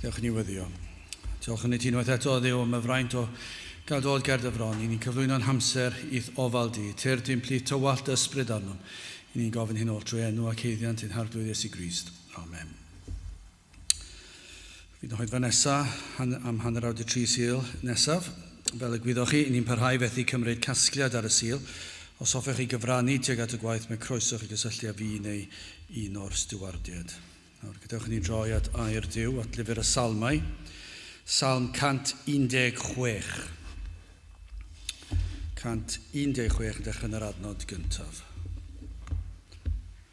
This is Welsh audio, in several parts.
Diolch yn newyddio. Diolch yn ei ti unwaith eto ddew am y fraint o gael dod ger dy fron. I ni'n cyflwyno'n hamser i'th ofal di. Tyr di'n plith tywallt dy ysbryd arnom. I ni'n gofyn hyn oll trwy enw ac heiddiant ein harglwydd Iesu Grist. Amen. Fydd y hoedfa nesaf han, am hanner awr de tri sil nesaf. Fel y gwyddoch chi, ni'n parhau fethu cymryd casgliad ar y sil. Os hoffech chi gyfrannu tuag at y gwaith mae croeso chi gysylltu â fi neu un o'r stiwardiaid. Nawr, gadewch i ni droi at air Duw, at lyfr y Salmau, Salm 116. 116 yn dechrau yn yr adnod gyntaf.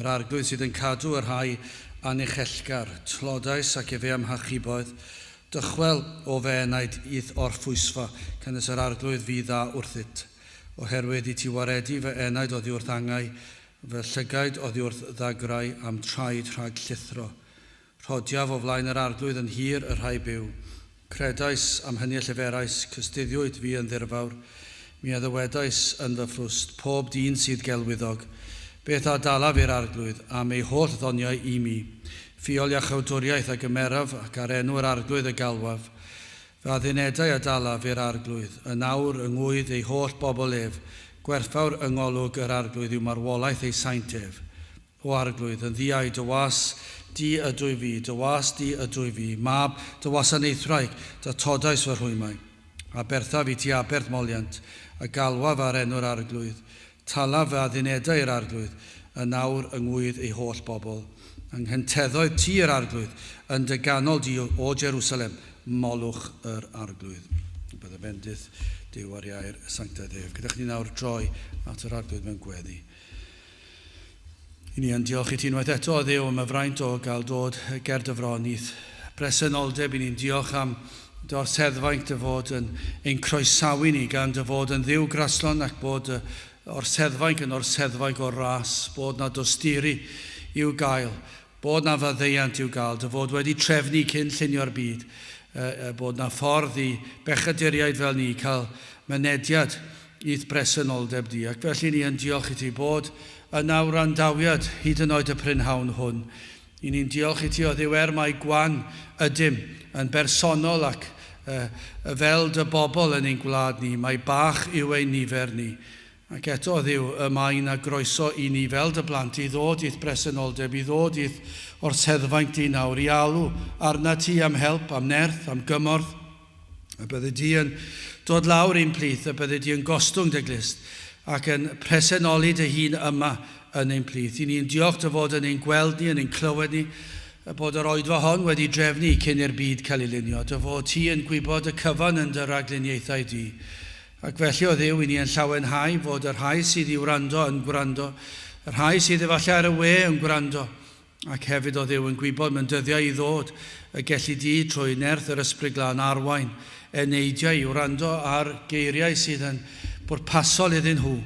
Yr Arglwydd sydd yn cadw y rhai anuchellgar, tlodais ac efe a'm hachubodd, dychwel, o fy enaid, i'th orffwysfa, canys yr Arglwydd fu dda wrthyt. Oherwydd i ti waredu fy enaid oddiwrth angau, fy llygaid oddiwrth ddagrau, a'm traed rhag llithro. Rhodiaf o flaen yr Arglwydd yn hir y rhai byw. Credais, am hynny y lleferais, cystuddiwyd fi yn ddirfawr. Mi a ddywedais yn fy ffrwst, Pob dyn sydd gelwyddog, beth a dalaf i'r Arglwydd, am ei holl ddoniau i mi? Ffiol iachawdwriaeth a gymeraf, ac ar enw yr Arglwydd y galwaf. Fy addunedau a dalaf i'r Arglwydd. Yn awr, yng ngŵydd ei holl bobl ef, gwerthfawr yng ngolwg yr Arglwydd yw marwolaeth ei saint ef. O Arglwydd, yn ddiau dy was Di ydwy fi, dy was Di ydwy fi, mab dy wasanaethwraig, dy todais fy rhwymau. Aberthaf i ti aberth moliant, a galwaf ar enw'r Arglwydd. Talaf fy addunedau i'r Arglwydd, yn awr yng ngŵydd ei holl bobl. Anghynteddau ti i'r Arglwydd, yn dy ganol di, O Jerusalem, molwch yr Arglwydd. Byddai bendith Duw ar iau'r sanctaidd ef. Gyda chdi nawr droi at yr Arglwydd mewn gweddi. I ni yn diolch i ti unwaith eto, Dduw, am y fraint o gael dod ger dy fron i'th bresenoldeb. I ni'n diolch am dy orseddfaint dy fod yn ein croesawu ni gan dy fod yn dduw graslon ac bod dy orseddfainc yn orseddfainc o'r ras, bod na dosturi i'w gael. bod 'na faddeuant i'w gael, dy fod wedi trefnu cyn llunio'r byd, y bod 'na ffordd i bechaduriaid fel ni cael mynediad i'th bresenoldeb di, ac felly ni yn diolch i ti bod yna wrandawiad hyd yn oed y prynhawn hwn. I ni'n diolch i ti o Dduw er mai gwan ydym, yn bersonol ac fel dy bobl yn ein gwlad ni, mai bach yw ein nifer ni. Ac eto, Dduw, y mae yna groeso i ni fel dy blant i ddod i'th bresenoldeb, i ddod i'th orseddfaint di nawr, i alw arnat ti am help, am nerth, am gymorth, y byddi di yn dod lawr i'n plith, y byddi di yn gostwng dy glust, ac yn presenoli dy hun yma yn ein plith. I ni yn diolch dy fod yn ein gweld ni, yn ein clywed ni, y bod yr oedfa hon wedi drefnu cyn i'r byd cael ei lunio, dy fod ti yn gwybod y cyfan yn dy ragluniaethau di, Ac felly, o Dduw, i ni yn llawenhau fod y rhai sydd i wrando yn gwrando, y rhai sydd efallai ar y we yn gwrando, ac hefyd, o Dduw, yn gwybod mewn dyddiau i ddod y gelli Di, trwy nerth yr Ysbryd Glân, arwain eneidiau i wrando ar geiriau sydd yn bwrpasol iddyn nhw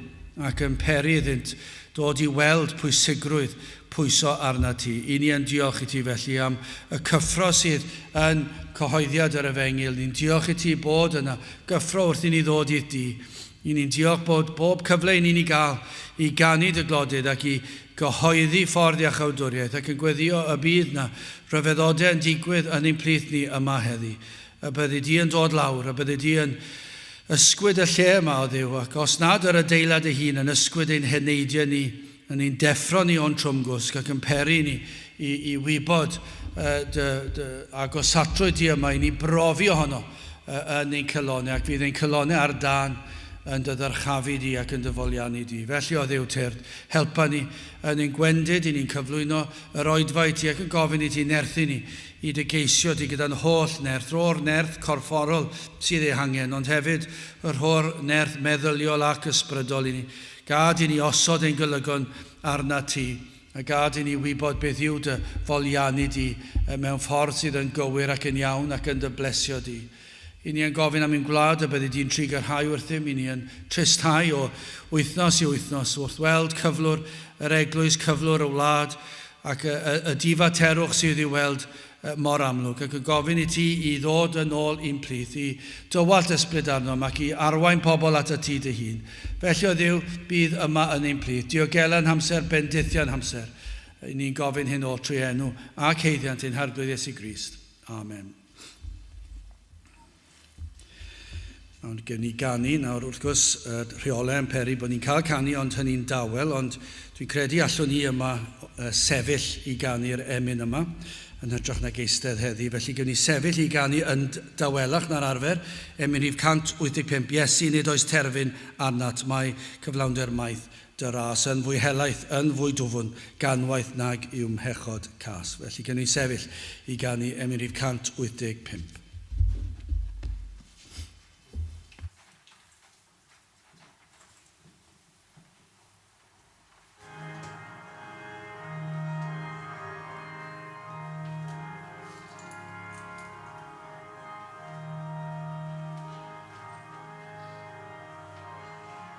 ac yn peri iddynt ddod i weld pwysigrwydd pwyso arnat Ti. I ni yn diolch i Ti felly am y cyffro sydd yn cyhoeddiad yr Efengyl. Ni'n diolch i Ti bod yna gyffro wrth i ni ddod i'th du. Yn ni'n diolch bod pob cyfle yn ni'n ei gael i ganu dy glodyd ac i gyhoeddi ffordd iachawdwriaeth ac yn gweddio y bydd na ryfeddode yn digwydd yn ein plith ni yma heddi. Y byddi di yn dod lawr, y byddi di yn ysgwyd y lle yma, o Dduw, ac os nad yr adeilad ei hun yn ysgwyd ein heneidiau ni, Yn ein deffro ni o'n trwmgwsg ac yn peri ni i, i wybod uh, dy, dy agosatrwydd di yma i ni brofi ohono uh, yn ein cylonau ac fydd ein cylonau ar dan yn dy ddyrchafu di ac yn dy foliannu di. Felly o ddew tyrd, helpa ni yn ein gwendid i ni'n cyflwyno yr oedfa i ti ac yn gofyn i ti nerthu ni i dy geisio di gyda'n holl nerth, ro'r nerth corfforol sydd ei hangen, ond hefyd yr ho'r nerth meddyliol ac ysbrydol i ni Gad i ni osod ein golygon arnat ti, a gad i ni wybod beth yw dy folianu di mewn ffordd sydd yn gywir ac yn iawn ac yn dy blesio di. I ni yn gofyn am ein gwlad y byddi di'n try gyrhau wrthym, i ni yn tristhau o wythnos i wythnos wrth weld cyflwr yr eglwys, cyflwr y wlad, ac y difaterwch sydd i'w weld mor amlwg, ac yn gofyn i ti i ddod yn ôl i'n plith, i Dy wallt ysbryd arnom, ac i arwain pobl atat Ti Dy hun. Felly, o Dduw, bydd yma yn ein plith, diogela yn hamser bendithiau'n hamser. Yn ni'n gofyn hyn oll trwy enw ac haeddiant ein Harglwydd Iesu Grist. Amen. Ond gen i ganu nawr, wrth gwrs, y rheolau yn peri bod ni'n cael canu ond hynny'n dawel, ond dwi'n credu allwn ni yma sefyll i ganu'r emyn yma, yn hytrach nag eistedd heddi, felly gewn ni sefyll i ganu yn dawelach na'r arfer, emyn rhif 185, Iesu, nid oes terfyn arnat, mae cyflawnder maith Dŷ'r ras yn fwy helaeth, yn fwy dwfn, gan waeth nag i'w mhechod cas. Felly cyn ei sefyll i ganu emyn rhif 185.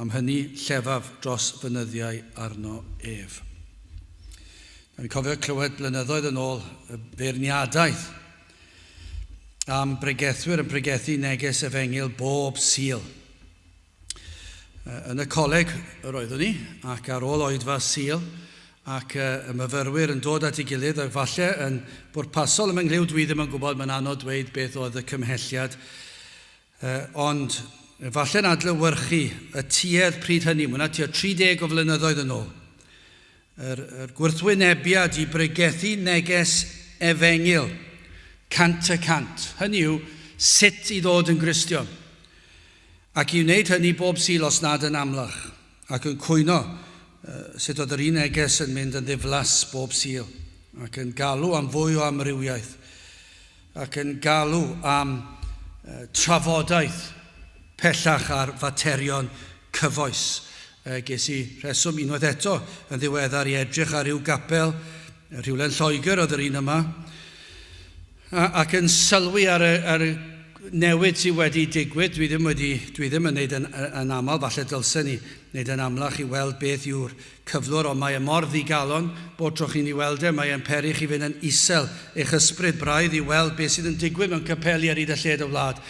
Am hynny llefaf dros fy nyddiau arno ef. Dw i'n cofio clywed blynyddoedd yn ôl y beirniadaeth am bregethwyr yn pregethu neges efengyl bob Sul. Yn y coleg yr oeddwn i, ac ar ôl oedfa Sul, ac y myfyrwyr yn dod at ei gilydd, ac falle yn bwrpasol ym mhenglyw dw i ddim yn gwybod, mae'n anodd dweud beth oedd y cymhelliad, Ond, efallai'n adlewyrchu y tuedd pryd hynny, mae yna tua 30 o flynyddoedd yn ôl, yr, yr gwrthwynebiad i bregethu neges efengyl cant y cant, hynny yw, sut i ddod yn Gristion, ac i wneud hynny bob Sul os nad yn amlach. ac yn cwyno sut oedd yr un neges yn mynd yn ddiflas bob Sul, ac yn galw am fwy o amrywiaeth, ac yn galw am trafodaeth pellach ar faterion cyfoes. Ges i rheswm unwaith eto yn ddiweddar i edrych ar ryw gapel rhywle yn Lloegr, oedd yr un yma, Ac yn sylwi ar y, ar y newid sydd wedi digwydd, dwi ddim wedi, dwi ddim yn neud yn, yn aml, falle dylsen ni neud yn amlach i weld beth yw'r cyflwr, ond mae e mor ddigalon, bob tro chi'n ei weld e, mae e'n peri chi fynd yn isel, eich ysbryd braidd, i weld beth sydd yn digwydd mewn capeli ar hyd a lled y wlad.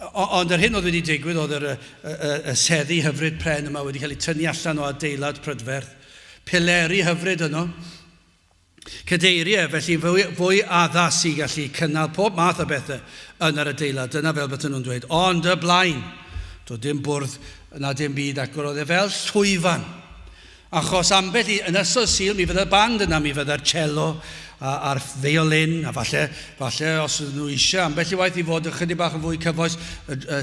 O, ond yr hyn oedd wedi digwydd oedd yr, y, y, y seddi hyfryd pren yma wedi cael ei tynnu allan o adeilad prydferth. Pileri hyfryd yno. Cadeirydd, felly fwy addas i gallu cynnal pob math o bethau yn yr adeilad, dyna fel bydden nhw'n dweud. Ond y blaen, doedd dim bwrdd na dim byd ac roedd e fel llwyfan. Achos ambell i, yn ysol Sul mi fydde'r band yna, mi fydde'r cello a'r feiolin, a falle, falle os ydyn nhw eisiau ambell i waith i fod ychydig bach yn fwy cyfoes,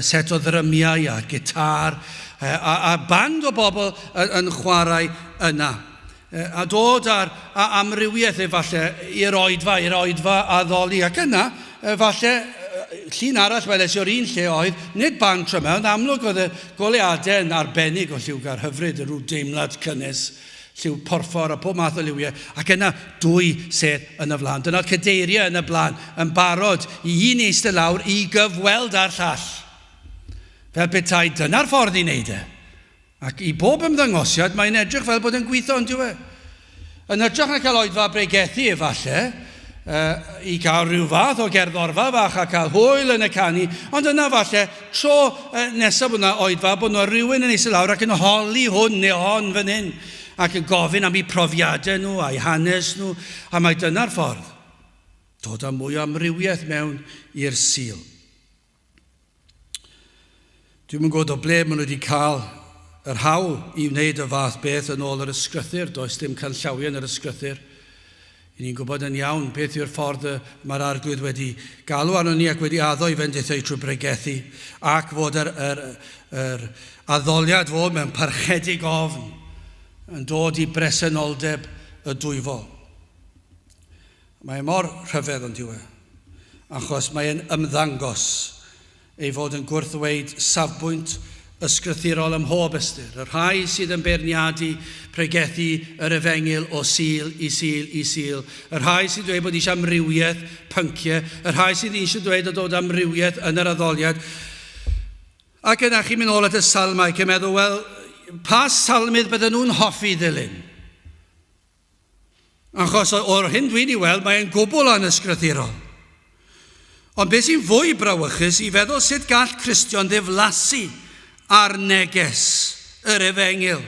set o ddrymiau a gitâr a band o bobl yn chwarae yna. A dod â'r amrywiaeth efallai i'r oedfa, i'r oedfa addoli. Ac yna, efallai, llun arall weles i o'r un lle oedd, nid band trymau, ond amlwg oedd y goleuadau yn arbennig o lliwgar hyfryd, yn rhyw deimlad cynnes, lliw porffor a pob math o liwiau, ac yna dwy sedd yn y flaen. Dyna'r cadeiriau yn y blaen, yn barod i un i eistedd lawr i gyfweld â'r llall. Fel petai dyna'r ffordd i wneud e. Ac i bob ymddangosiad, mae'n edrych fel bod e'n gwitho, yn dyw e? Yn hytrach na cael oedfa bregethu, efallai, yy, i gael rhyw fath o gerddorfa fach a cael hwyl yn y canu, ond yna, efallai, tro yy, nesaf bod yna oedfa, bod yna rywun yn eistedd lawr ac yn holi hwn neu hon fan hyn, ac yn gofyn am eu profiadau nhw a'u hanes nhw, a mai dyna'r ffordd. Dod â mwy o amrywiaeth mewn i'r Sul. Dwi'n yn gwybod o ble maen nhw wedi cael yr hawl i wneud y fath beth yn ôl yr ysgrythyr. Does dim canllawiau yn yr ysgrythyr. I ni'n gwybod yn iawn beth yw'r ffordd y mae'r arglwydd wedi galw arno ni ac wedi addo i fendithau trwy bregethu ac fod yr, yr, yr addoliad fod mewn parchedig ofn yn dod i bresenoldeb y dwyfol. Mae mor rhyfedd yn dyw e, achos mae e'n ymddangos ei fod yn gwrthddweud safbwynt ysgrythurol ym mhob ystyr, y rhai sydd yn beirniadu pregethu yr efengyl o Sul i Sul i Sul, y rhai sy'n dweud bod eisiau amrywiaeth, pyncie, y rhai sydd eisiau dweud y dod amrywiaeth yn yr addoliad. Ac yna chi'n mynd ôl at y salmau ac yn meddwl, wel, pa salmydd bydden nhw'n hoffi ddilyn? Achos o'r hyn dwi wedi weld, mae e'n gwbl anysgrythurol. Ond beth sy'n fwy brawychus i feddwl sut gall Cristion ddiflasu ar neges yr Efengyl?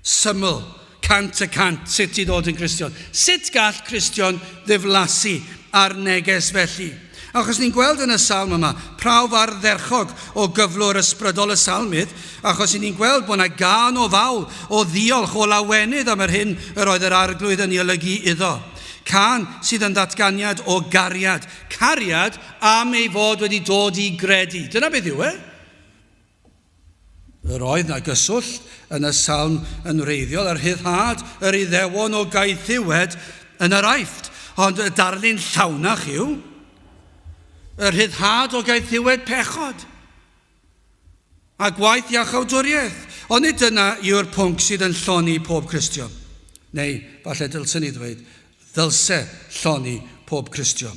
Syml, cant y cant, sut i ddod yn Gristion. Sut gall Cristion ddiflasu ar neges felly? Achos ni'n gweld yn y salm yma prawf ardderchog o gyflwr ysbrydol y salmydd, achos i ni'n gweld bod yna gân o fawl, o ddiolch, o lawenydd am yr hyn yr oedd yr Arglwydd yn ei olygu iddo. Cân sydd yn ddatganiad o gariad, cariad am ei fod wedi dod i gredu. Dyna beth yw e. Yr oedd na gyswllt yn y salm yn wreiddiol a rhyddhad yr Iddewon o gaethiwed yn yr Aifft, ond y darlun llawnach yw y rhyddhad o gaethiwed pechod a gwaith iachawdwriaeth. Ond nid dyna yw'r pwnc sydd yn lloni pob Cristion, neu falle dylsen ni ddweud, ddylse lloni pob Cristion.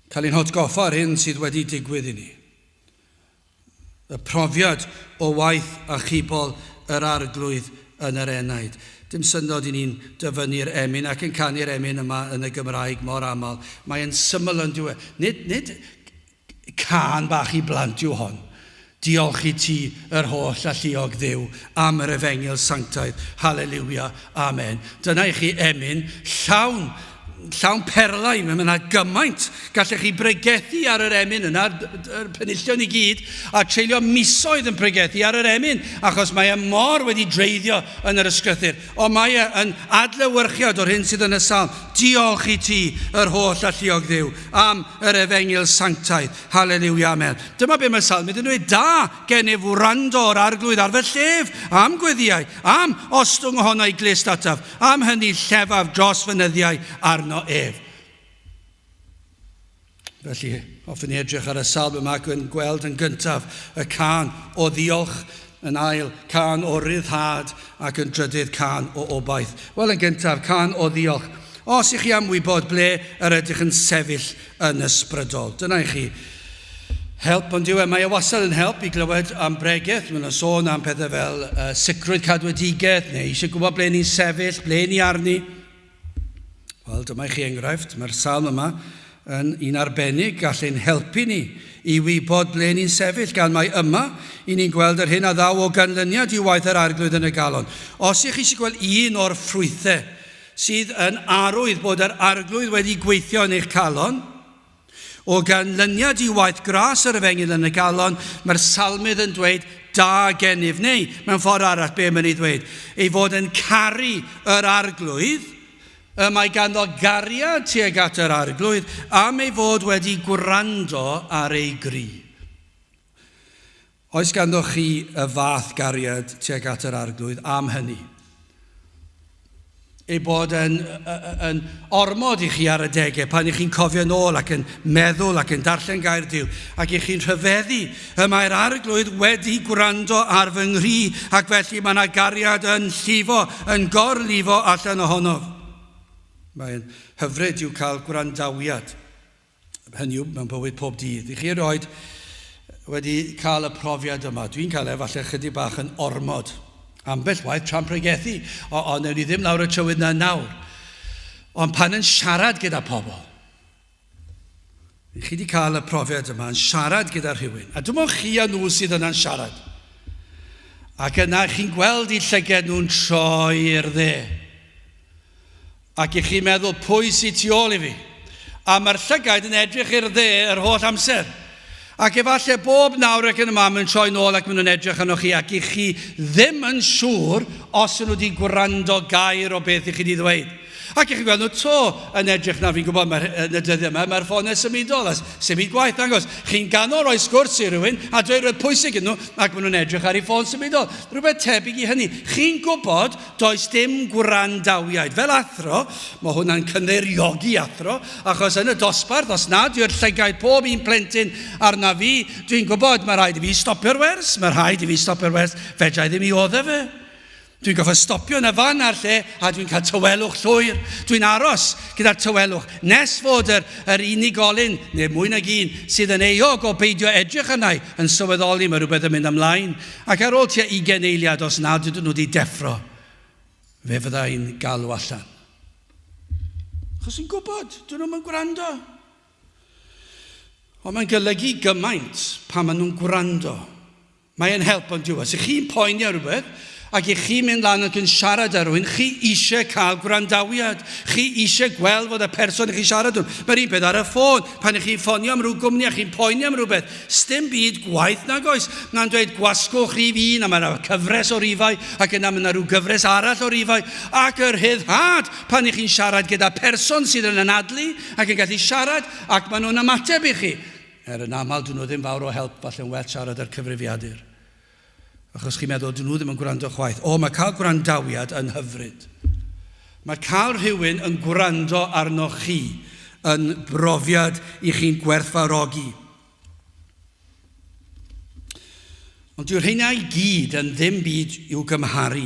Cael ein hatgoffa o'r hyn sydd wedi digwydd i ni. Y profiad o waith achubol yr Arglwydd yn yr enaid. Dim syndod i ni'n dyfynnu'r emyn ac yn canu'r emyn yma yn y Gymraeg mor aml. Mae e'n syml yn dyw e. Nid, nid cân bach i blant yw hon. Diolch i ti, yr holl alluog Dduw, am yr efengyl sanctaidd. Haleliwia. Amen. Dyna i chi emyn llawn llawn perlau, mae yna gymaint. Gallech chi bregethu ar yr emyn yna, yr penillion i gyd, a treulio misoedd yn pregethu ar yr emyn, achos mae e mor wedi dreiddio yn yr ysgrythyr. Ond mae e yn adlewyrchiad o'r hyn sydd yn y salm. Diolch i ti, yr holl alluog ddiw, am yr efengyl sanctaidd. Haleliwia, amen. Dyma be mae salm yn dweud, da gennyf wrando o'r arglwydd ar fy llef, am gweddiau, am ostwng ohono i glist ataf. Am hynny llefaf dros fy nyddiau arno ef. Felly, hoffwn ni edrych ar y salm yma ac yn gweld yn gyntaf y can o ddiolch, yn ail can o ryddhad ac yn drydydd can o obaith. Wel, yn gyntaf, can o ddiolch. Os i chi am wybod ble yr ydych yn sefyll yn ysbrydol. Dyna i chi help, ond yw e, mae e wastad yn help i glywed am bregeth, mae'n sôn am pethau fel uh, sicrwydd cadwedigaeth, neu eisiau gwybod ble ni'n sefyll, ble ni arni. Wel, dyma i chi enghraifft, mae'r salm yma yn un arbennig gall ein helpu ni i wybod ble ni'n sefyll, gan mae yma i ni'n gweld yr hyn a ddaw o ganlyniad i waith yr arglwydd yn y galon. Os ych chi eisiau gweld un o'r ffrwythau sydd yn arwydd bod yr Arglwydd wedi gweithio yn eich calon. O ganlyniad i waith gras yr efengyl yn y galon, mae'r salmydd yn dweud da gennyf, neu mewn ffordd arall be mae'n ei ddweud, ei fod yn caru yr arglwydd, y mae ganddo gariad tuag at yr arglwydd am ei fod wedi gwrando ar ei gri. Oes ganddoch chi y fath gariad tuag at yr Arglwydd am hynny? Ei bod yn, yn ormod i chi ar y degau pan ych chi'n cofio'n ôl ac yn meddwl ac yn darllen gair Dyw ac ych chi'n rhyfeddu y mae'r Arglwydd wedi gwrando ar fy nghri ac felly mae yna gariad yn llifo, yn gorlifo allan ohonof. Mae'n hyfryd i'w cael gwrandawiad. hynny yw, mewn bywyd pob dydd. I chi erioed wedi cael y profiad yma. Dwi'n cael e, falle chydig bach yn ormod. Ambell waith tra'n pregethu, o, o newn ni ddim lawr y trywydd na nawr. Ond pan yn siarad gyda pobl, chi wedi cael y profiad yma yn siarad gyda rhywun, a dim ond chi a nhw sydd yna'n siarad. Ac yna chi'n gweld i llyged nhw'n troi i'r dde. Ac i chi meddwl pwy sy tu ôl i fi. A mae'r llygaid yn edrych i'r dde yr holl amser. Ac efallai bob nawr ac yn y man maen nhw'n troi nôl ac maen nhw'n edrych arnoch chi ac i chi ddim yn siŵr os yn nhw wedi gwrando gair o beth i chi wedi ddweud. Ac i chi gweld nhw to yn edrych nawr, fi'n gwybod mae'r, yn y dyddiau yma, mae'r ffonau symudol a symud gwaith dangos. Chi'n ganol rhoi sgwrs i rywun a dweud rhywbeth pwysig iddyn nhw ac maen nhw'n edrych ar eu ffôn symudol. Rhywbeth tebyg i hynny. Chi'n gwybod Does dim gwrandawiad. Fel athro, mae hwnna'n cynddeiriogi athro, achos yn y dosbarth, os nad yw'r llygaid pob un plentyn arna fi, dwi'n gwybod mae rhaid i fi stopio'r wers, mae rhaid i fi stopio'r wers, fedra i ddim i oddef fe. Dwi'n goffa stopio na fan ar lle a dwi'n cael tywelwch llwyr. Dwi'n aros gyda'r tywelwch nes fod yr, yr unigolyn, neu mwy nag un, sydd yn euog o beidio edrych arna i yn sylweddoli mae rhywbeth yn mynd ymlaen. Ac ar ôl tua ugain eiliad, os nad ydyn nhw wedi deffro, fe fydda i'n galw allan. Achos yn gwybod, dyn nhw'm yn gwrando. Ond mae'n golygu gymaint pan maen nhw'n gwrando. Mae e'n help ond diwedd. Os chi'n poeni ar rhywbeth, ac i chi mynd lan ac yn siarad ar rhywun, chi eisiau cael gwrandawiad. Chi eisiau gweld fod y person i chi siarad nhw. Mae'r un peth ar y ffôn. Pan ych chi'n ffonio am rhyw gwmni a chi'n poeni am rhywbeth, Sdim byd gwaeth nag oes. Mae'n dweud gwasgwch rhif un a mae yna cyfres o rifau ac yna mae yna rhyw gyfres arall o rifau ac y rhyddhad pan i chi'n siarad gyda person sydd yn anadlu ac yn gallu siarad ac maen nhw'n ymateb i chi er yn aml dyn nhw ddim fawr o help falle'n well siarad â'r cyfrifiadur Achos chi'n meddwl, 'dyn nhw ddim yn gwrando chwaith. O, mae cael gwrandawiad yn hyfryd. Mae cael rhywun yn gwrando arnoch chi yn brofiad i chi'n gwerthfawrogi. Ond dyw rheina i gyd yn ddim byd i'w gymharu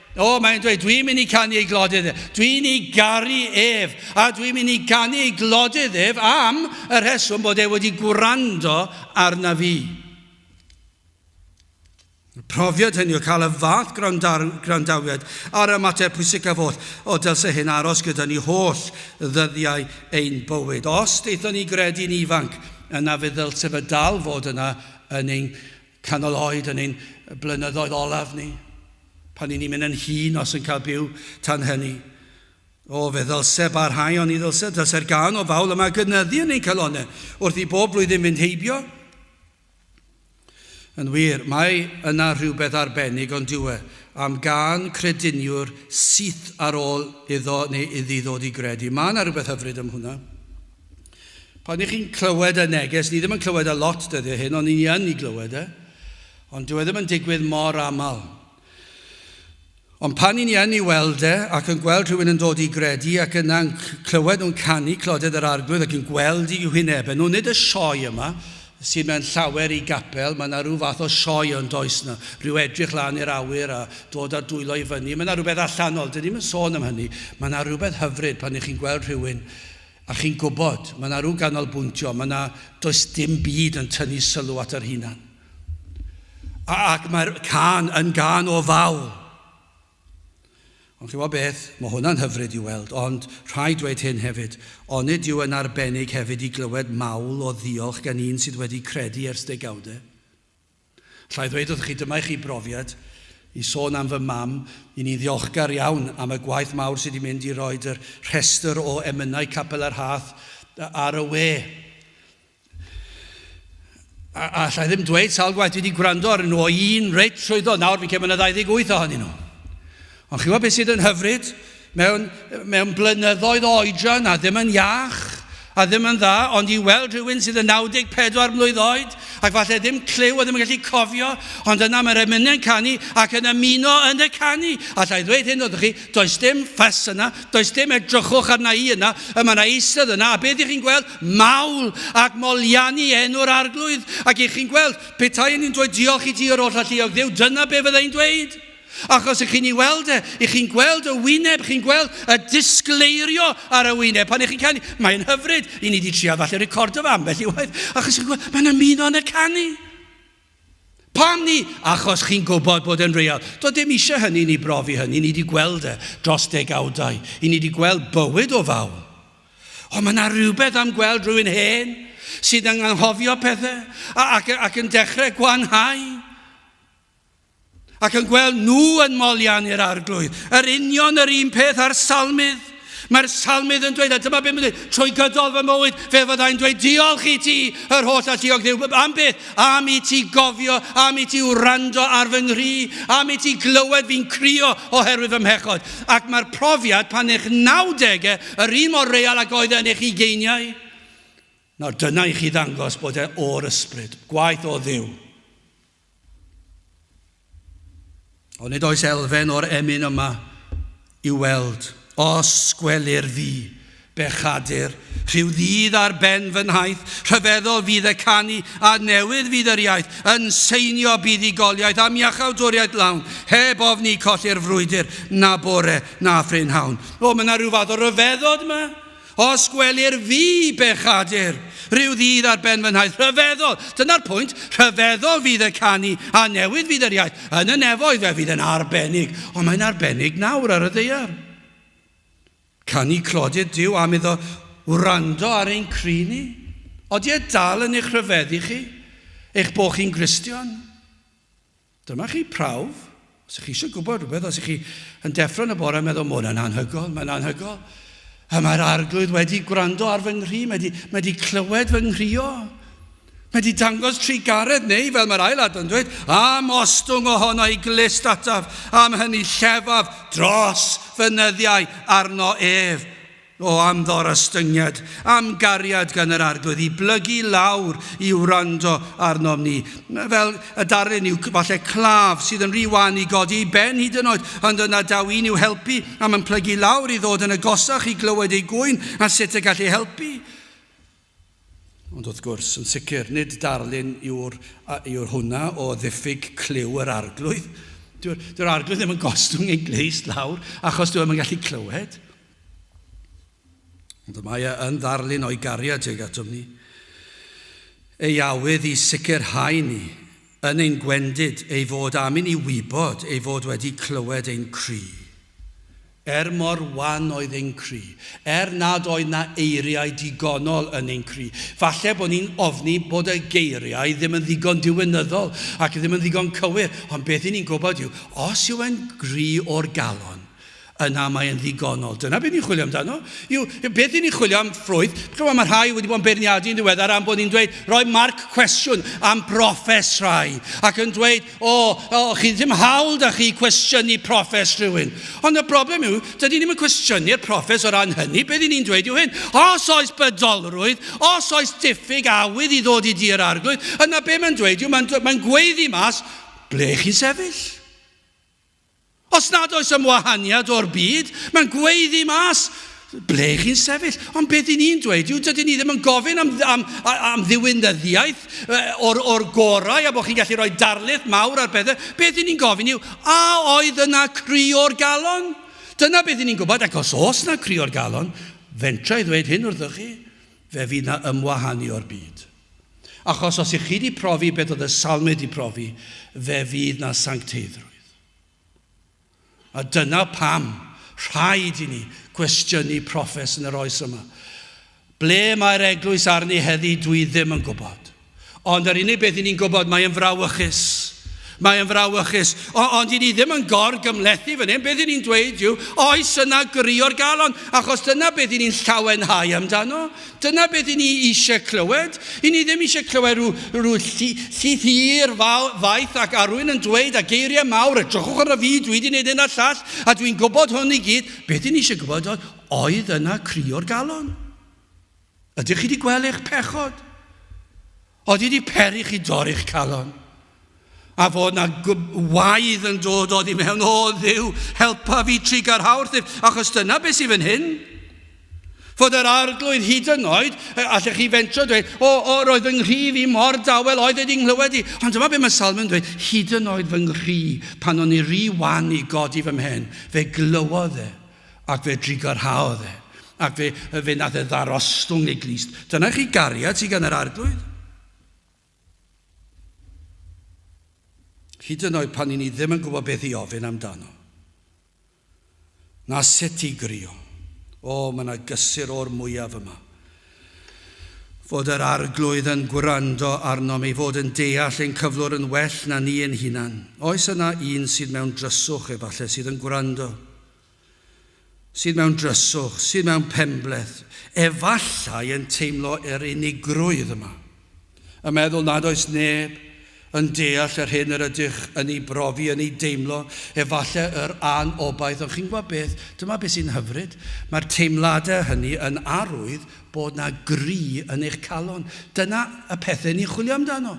O, mae'n dweud, dwi'n mynd i canu ei glodydd ef. Dwi'n ei garu ef. A dwi'n mynd i canu ei glodydd ef am y rheswm bod e wedi gwrando arna fi. Profiad hynny o cael y fath gwrandawiad ar y mater pwysicaf oll, o dylse hyn aros gyda ni holl ddyddiau ein bywyd. Os deithon ni gredu'n ifanc, yna fe ddylse fe dal fod yna yn ein canol oed, yn ein blynyddoedd olaf ni. Pan y'n ni'n mynd yn hŷn, os yn cael byw tan hynny. O, fe ddylse barhau, oni ddylse? Dylse'r gân o Fawl yma gynyddu yn ein calonnau, wrth i bob blwyddyn fynd heibio? Yn wir, mae yna rhywbeth arbennig, ond dyw e, am gân crediniwr syth ar ôl iddo neu iddi ddod i gredu. Mae yna rhywbeth hyfryd am hwnna. Pan ych chi'n clywed y neges, ni ddim yn clywed e lot dyddiau hyn, ond ni yn ei glywed e. Ond dyw e ddim yn digwydd mor aml. Ond pan i ni yn i weld e, ac yn gweld rhywun yn dod i gredu, ac yna'n clywed nhw'n canu Clodedd yr Arglwydd ac yn gweld i hwynebau nhw, nid y sioe yma, sydd mewn llawer i gapel, mae yna rhyw fath o sioe yn does na, rhyw edrych lan i'r awyr a dod a dwylo i fyny, mae yna rhywbeth allanol, dyn ni'n yn sôn am hynny, mae yna rhywbeth hyfryd pan ych chi'n gweld rhywun a chi'n gwybod, mae yna rhyw ganolbwyntio, mae yna, does dim byd yn tynnu sylw at yr hunan. Ac mae'r can yn gan o ddal. Ond chi wybod beth, mae hwnna'n hyfryd i weld, ond rhaid dweud hyn hefyd, onid yw yn arbennig hefyd i glywed mawl o ddiolch gan un sydd wedi credu ers degawde? Llai ddweud wrth chi, dyma i chi brofiad, i sôn am fy mam, i ni ddiolchgar iawn am y gwaith mawr sydd wedi mynd i roi yr rhestr o emynau Capel yr Hath ar y we. A, a allai ddim dweud sawl gwaith dwi wedi gwrando ar nhw o un reit trwyddo, nawr fi'n cael mynd 28 ohonyn nhw. Ond chi'n gwybod beth sydd yn hyfryd? Mewn, mewn blynyddoedd oedran a ddim yn iach, a ddim yn dda, ond i weld rhywun sydd yn 94 mlwydd oed, ac falle ddim clyw a ddim yn gallu cofio, ond yna mae'r emynau'n canu ac yn ymuno yn y canu. Allai ddweud hyn wrthych chi, does dim ffys yna, does dim edrychwch arna i yna, y mae yna eisodd yna, a beth ydych chi'n gweld? mawl ac moliannu enw'r Arglwydd, ac i chi'n gweld, petai ni'n dweud diolch i ti yr oll alluog Dduw, dyna be fydda i'n dweud. Achos i chi'n ei weld e, i chi'n gweld y wyneb, chi'n gweld y disgleirio ar y wyneb. Pan i chi'n canu, mae'n hyfryd, i ni wedi trial falle recordo fe ambell i waith, achos chi'n gweld, mae'n ymuno yn y canu. Pam ni? Achos chi'n gwybod bod e'n real. Doedd dim eisiau hynny i ni brofi hynny, ni wedi gweld e dros degawdau, i ni wedi gweld bywyd o fawl. Ond mae yna rhywbeth am gweld rhywun hen sydd yn anghofio pethau ac, ac yn dechrau gwanhau. Ac yn gweld nhw yn molian i'r arglwydd. Yr union yr un peth a'r salmydd. Mae'r salmydd yn dweud, a dyma beth mae'n dweud, trwy gydol fy mywyd, fe fyddai'n dweud, diolch i ti, yr holl alluog ddiw, am beth, am i ti gofio, am i ti wrando ar fy nghri, am i ti glywed fi'n crio oherwydd fy mhechod. Ac mae'r profiad pan eich 90au, yr un mor real ag oedd e yn eich ugeiniau, nawr dyna i chi ddangos bod e o'r ysbryd, gwaith o ddiw. Ond nid oes elfen o'r emyn yma i'w weld. Os gwelir fi, bechadur, rhyw ddydd ar ben fy nhaith, rhyfeddol fydd y canu, a newydd fydd yr iaith, yn seinio buddugoliaeth am iachawdwriaeth lawn, heb ofni colli'r frwydr, na bore, na phrynhawn. O, mae yna rhyw fath o ryfeddod yma. Os gwelir fi, bechadur, rhyw ddydd ar ben fy nhaith, rhyfeddol, dyna'r pwynt, rhyfeddol fydd y canu, a newydd fydd yr iaith, yn y nefoedd fe fydd yn arbennig, ond mae'n arbennig nawr ar y ddaear. Canu clodydd Duw am iddo wrando ar ein cri ni. Odi e dal yn eich rhyfeddu chi, eich bod chi'n Gristion? Dyma chi prawf, os ych chi eisiau gwybod rhywbeth, os ych chi yn deffro yn y bore yn meddwl, mae hwnna'n anhygoel, mae'n anhygoel. A mae'r arglwydd wedi gwrando ar fy nghri, mae wedi, mae wedi clywed fy nghrio. Mae wedi dangos trigaredd neu, fel mae'r ail adran dweud, am ostwng ohono i glist ataf, am hynny llefaf dros fy nyddiau arno ef. O am ddorostyngiad, am gariad gan yr Arglwydd i blygu lawr i wrando arnom ni. Fel y darlun yw falle claf sydd yn rhy wan i godi ei ben hyd yn oed, ond yna daw un i'w helpu am yn plygu lawr i ddod yn agosach i glywed ei gŵyn a sut y gall ei helpu. Ond wrth gwrs, yn sicr, nid darlun yw'r yw'r hwnna o ddiffyg clyw yr Arglwydd. Dyw'r dyw Arglwydd ddim yn gostwng ei glust lawr achos dyw e ddim yn gallu clywed. Ond y mae e yn ddarlun o'i gariad tuag atom ni. Ei awydd i sicrhau ni, yn ein gwendid, ei fod am i ni wybod ei fod wedi clywed ein cri. Er mor wan oedd ein cri, er nad oedd 'na eiriau digonol yn ein cri, falle bod ni'n ofni bod y geiriau ddim yn ddigon diwinyddol ac ddim yn ddigon cywir, ond beth i ni'n gwybod yw, os yw e'n gri o'r galon, yna mae e'n ddigonol. Dyna be ni'n chwilio amdano, yw beth i ni'n chwilio am ffrwyth. Chimod, mae rhai wedi bod yn beirniadu yn ddiweddar am bod ni'n dweud, rhoi marc cwestiwn am brofes rhai, ac yn dweud, O, o, chi ddim hawl da chi cwestiynu proffes rhywun. Ond y broblem yw, dydy ni'n cwestiynu'r proffes o ran hynny, beth ni'n dweud yw hyn, os oes bydolrwydd, os oes diffyg awydd i ddod i dir arglwydd, yna be mae'n dweud yw, mae'n mae gweiddi mas, ble chi'n sefyll? Os nad oes am wahaniad o'r byd, mae'n gweiddi mas ble chi'n sefyll. Ond beth i ni'n dweud yw, dydyn ni ddim yn gofyn am, am, am ddiwinyddiaeth o'r, or gorau a bod chi'n gallu rhoi darlith mawr ar bethau. Beth i ni'n gofyn yw, a oedd yna cri o'r galon? Dyna beth i ni'n gwybod, ac os oes yna cri o'r galon, fentra i ddweud hyn wrthoch chi, fe fydd yna ymwahanu o'r byd. Achos os i chi di profi beth oedd y salmud di profi, fe fydd na sancteiddrwydd. A dyna pam rhaid i ni gwestiynu proffes yn yr oes yma. Ble mae'r eglwys arni heddi, dwi ddim yn gwybod. Ond yr unig beth i ni'n gwybod, mae yn frawychus. Mae yn frawychus. O, ond i ni ddim yn gor gymlethu fan hyn, beth i ni'n dweud yw, oes yna gyrio'r galon, achos dyna beth i ni'n llawenhau amdano. Dyna beth i ni eisiau clywed. I ni ddim eisiau clywed rhyw, rhyw llith hir faith ac arwyn yn dweud a geiriau mawr, a drychwch ar y fi, dwi wedi gwneud hyn a llall, a dwi'n gwybod hwn i gyd. Beth i ni eisiau gwybod oedd, oedd yna cri o'r galon? Ydych chi wedi gweld eich pechod? Oeddi di peri chi dorri'ch calon. A fod na waedd yn dod oddi mewn, o ddiw, helpa fi trigar hawrthyf, achos dyna beth sydd fan hyn. Fod yr arglwydd hyd yn oed, allech chi fentro dweud, o, o, roedd fy nghrif i mor dawel, oedd wedi nghlywed i. Ond dyma beth mae Salm yn dweud, hyd yn oed fy nghri, pan o'n i ry wan i godi fy mhen, fe glywodd e, Ac fe drigyrhaodd e, ac fe, fe nath e ddarostwng ei glust. Dyna chi gariad sydd gan yr Arglwydd. Hyd yn oed pan i ni ddim yn gwybod beth i ofyn amdano. Na sut i grio. O, mae yna gysur o'r mwyaf yma. fod yr Arglwydd yn gwrando arnom, ei fod yn deall ein cyflwr yn well na ni ein hunan. Oes yna un sydd mewn dryswch, efallai, sydd yn gwrando? Sydd mewn dryswch, sydd mewn penbleth, efallai yn teimlo yr unigrwydd yma? A meddwl nad oes neb yn deall yr hyn yr ydych yn ei brofi, yn ei deimlo, efallai yr an-obaith, ond chi'n gwybod beth, dyma beth sy'n hyfryd, mae'r teimladau hynny yn arwydd bod 'na gry yn eich calon. Dyna y pethau ni'n chwilio amdano.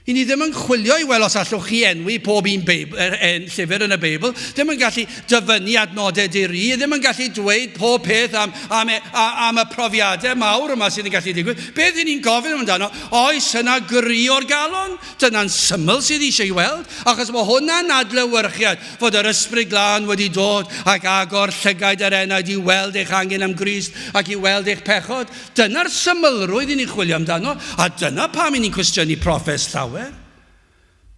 I ni ddim yn chwilio i weld os allwch chi enwi pob un Beibl, er, en, llyfr yn y Beibl, ddim yn gallu dyfynnu adnodau di-ri, ddim yn gallu dweud pob peth am, am, e, am y profiadau mawr yma sydd yn gallu digwydd. Beth i ni'n gofyn amdano, oes yna gry o'r galon? Dyna'n syml sydd eisiau ei weld, achos mae hwnna'n adlewyrchiad fod yr ysbryd glân wedi dod ac agor llygaid yr enaid i weld eich angen am Grist ac i weld eich pechod. Dyna'r symlrwydd i ni'n chwilio amdano, a dyna pam i ni'n cwestiynu proffes llawer.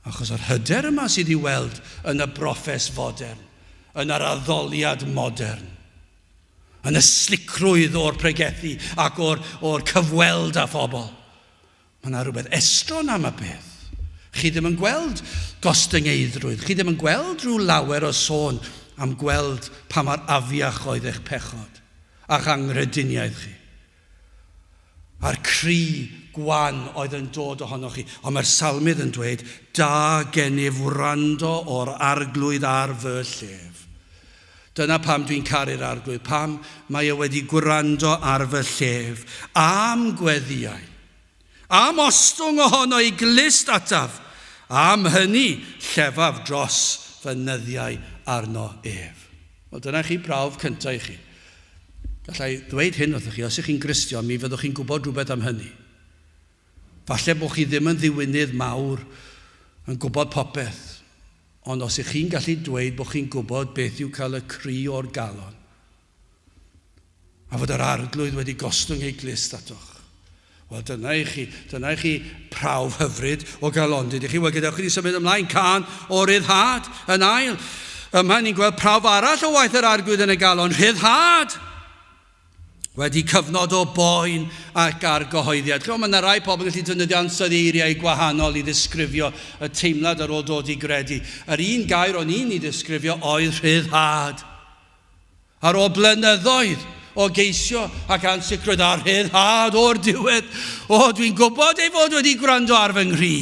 Achos yr hyder yma sydd i'w weld yn y broffes fodern, yn yr addoliad modern, yn y slicrwydd o'r pregethu ac o'r, o'r cyfweld â phobl. Mae yna rhywbeth estron am y peth. Chi ddim yn gweld gostyngeiddrwydd, chi ddim yn gweld rhyw lawer o sôn am gweld pa mor afiach oedd eich pechod a'ch anghrediniaeth chi, a'r cri gwan oedd yn dod ohonoch chi. Ond mae'r Salmydd yn dweud, Da gennyf wrando o'r Arglwydd ar fy llef. Dyna pam dwi'n caru'r Arglwydd, pam mae e wedi gwrando ar fy llef a'm gweddïau, a'm ostwng ohono i glust ataf, am hynny llefaf dros fy nyddiau arno ef. Wel, dyna chi brawf cyntaf i chi. Gallai ddweud hyn wrthoch chi, os ych chi'n Gristion, mi fyddwch chi'n gwybod rhywbeth am hynny. Falle bod chi ddim yn ddiwinydd mawr yn gwybod popeth, ond os y'ch chi'n gallu dweud bod chi'n gwybod beth yw cael y cri o'r galon, a fod yr Arglwydd wedi gostwng ei glust atoch, wel dyna i chi, dyna i chi prawf hyfryd o galondid i chi. Wel, gadewch i ni symud ymlaen, cân o ryddhad yn ail. Yma ni'n gweld prawf arall o waith yr Arglwydd yn y galon, rhyddhad! Wedi cyfnod o boen ac argyhoeddiad. Chimod, mae yna rai pobl yn gallu defnyddio ansawdd eiriau gwahanol i ddisgrifio y teimlad ar ôl dod i gredu. Yr un gair o'n i'n ei ddisgrifio oedd rhyddhad. Ar ôl blynyddoedd o geisio ac ansicrwydd a rhyddhad o'r diwedd, o, dwi'n gwybod ei fod wedi gwrando ar fy nghri.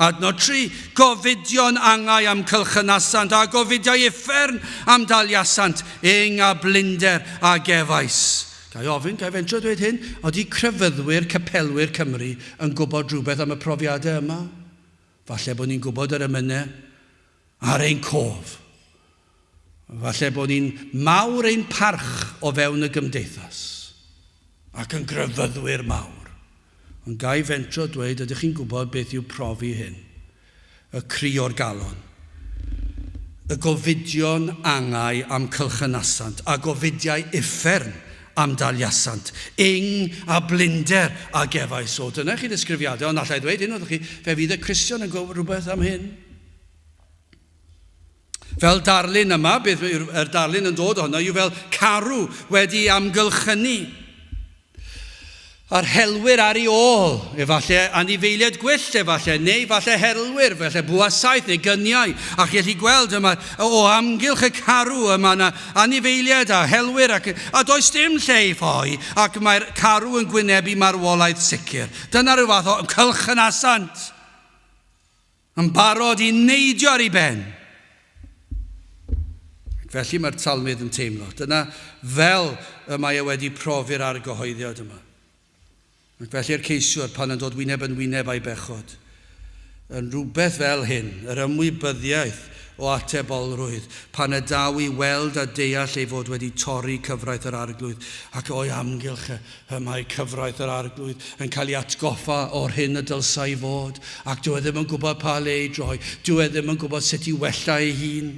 Adnod 3, Gofidion angau am cylchynasant a gofidiau uffern am daliasant ing a blinder a gefais. Ga i ofyn, ga i fentro dweud hyn, ydy crefyddwyr, capelwyr Cymru yn gwybod rhywbeth am y profiadau yma? Falle bod ni'n gwybod yr emynau ar ein cof. Falle bod ni'n mawr ein parch o fewn y gymdeithas, ac yn grefyddwyr mawr, ond ga i fentro dweud, ydych chi'n gwybod beth yw profi hyn? Y cri o'r galon, y gofidion angau am cylchynasant, a gofidiau uffern am daliasant, ing a blinder a gefais. O, dyna i chi ddisgrifiadau, ond alla i ddweud hyn wrthych chi, fe fydd y Cristion yn gwybod rhywbeth am hyn. Fel darlun yma, beth yw'r darlun yn dod ohono yw fel carw wedi amgylchynu. A'r helwyr ar ei ôl, efallai anifeiliaid gwyllt efallai, neu efallai herlwyr, efallai buasaeth neu gyniau. A chi'n gallu gweld yma, o amgylch y carw yma yna anifeiliaid a helwyr ac, a does dim lle i ffoi ac mae'r carw yn gwynebu marwolaeth sicr. Dyna rhyw fath o cylch yn asant. Yn barod i neidio ar ei ben. Ac felly mae'r talmydd yn teimlo. Dyna fel y mae e wedi profi'r argyhoeddiad yma. Ac felly'r ceisiwr, pan yn dod wyneb yn wyneb â'i bechod, yn rhywbeth fel hyn, yr ymwybyddiaeth o atebolrwydd, pan y daw i weld a deall ei fod wedi torri cyfraith yr Arglwydd, ac o'i amgylch e, Pe mai cyfraith yr Arglwydd yn cael ei atgoffa o'r hyn y dylsai i fod, ac dyw e ddim yn gwybod pa le ei droi, dyw e ddim yn gwybod sut i wella ei hun.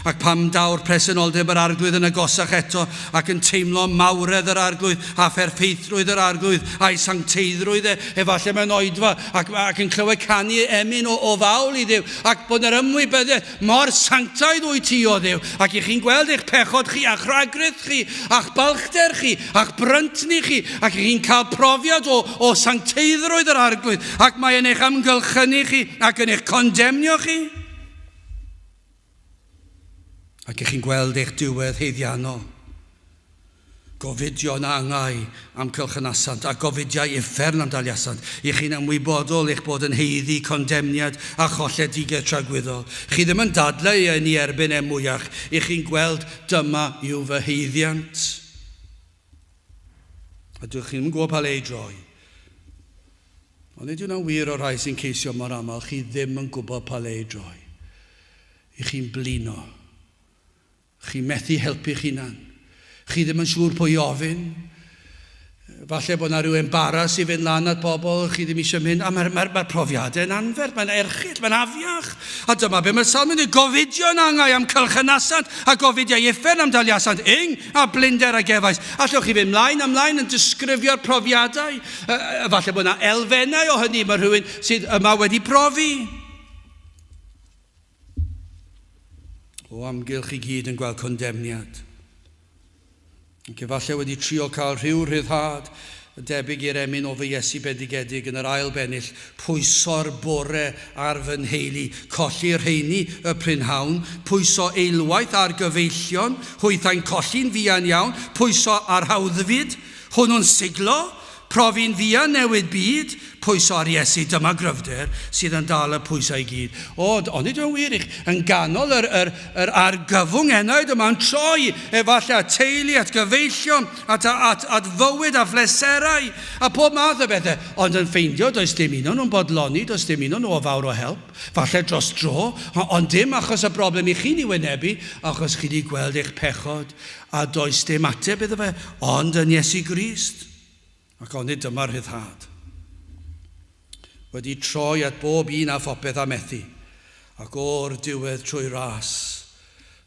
Ac pam daw'r presenoldeb yr Arglwydd yn agosach eto, ac yn teimlo mawredd yr Arglwydd, a pherffeithrwydd yr Arglwydd, a'i sancteiddrwydd e, efallai mewn oedfa, ac, ac yn clywed canu emyn o, o fawl i Dduw, ac bod yna ymwybyddiaeth, Mor sanctaidd wyt ti, O Dduw, ac i chi'n gweld eich pechod chi, a'ch rhagrith chi, a'ch balchder chi, a'ch bryntni chi, ac i chi'n cael profiad o, o sancteiddrwydd yr Arglwydd, ac mae yn eich amgylchynu chi, ac yn eich condemnio chi. Ac i chi'n gweld eich diwedd heiddiannol, Gofidion a angau am cylchnasant a gofidiau uffern am daliasant. Y'ch chi'n ymwybodol eich bod yn haeddu condemniad a cholledigaeth tragwyddol. Chi ddim yn dadlau ei ynni erbyn em mwyach. Y'ch chi'n gweld dyma yw fy haeddiant. A dych chi'm yn gwybod pa le ei droi. Ond nid yw hwnna'n wir o'r rhai sy'n ceisio mor aml, chi ddim yn gwybod pa le ei droi. Y'ch chi'n blino. Chi methu helpu'ch hunan. Chi ddim yn siŵr pwy i ofyn. Falle bod 'na ryw embaras i fynd lan at bobl chi ddim eisiau mynd. A mae'r mae, mae profiadau yn anferth, mae'n erchyll, mae'n afiach. A dyma be mae'r salmyn yn gofidio yn angau am cylchynasant a gofidiau uffern am daliasant yng a blinder a gefais. Allwch chi fynd mlaen a mlaen yn disgrifio'r profiadau. Falle bod yna elfennau o hynny mae rhywun sydd yma wedi profi. o amgylch i gyd yn gweld condemniad, ac efallai wedi trio cael rhyw rhyddhad yn debyg i'r emyn o fy Iesu bendigedig yn yr ail bennill, pwyso'r bore ar fy nheulu, colli rheiny y prynhawn, pwyso eilwaith ar gyfeillion, hwythau'n colli'n fuan iawn, pwyso ar hawddfyd, hwnnw'n siglo, Profi'n fuan newid byd, pwyso ar Iesu dyma gryfder sydd yn dal y pwysau i gyd. O, ond ydy o'n wir i chi, yn ganol yr, yr, yr argyfwng enaid yma, yn troi efallai at teulu, at gyfeillion, at, at, at fywyd a phleserau, a pob math o bethau, ond yn ffeindio does dim un o'n nhw'n bodloni, does dim un o'n nhw o fawr o help, falle dros dro, ond dim achos y broblem i chi'n ei wynebu, achos chi wedi gweld eich pechod, A does dim ateb iddo fe, ond yn Iesu Grist. Ac onid dyma rhyddhad? Wedi troi at bob un a phopeth a methu, ac o'r diwedd trwy ras,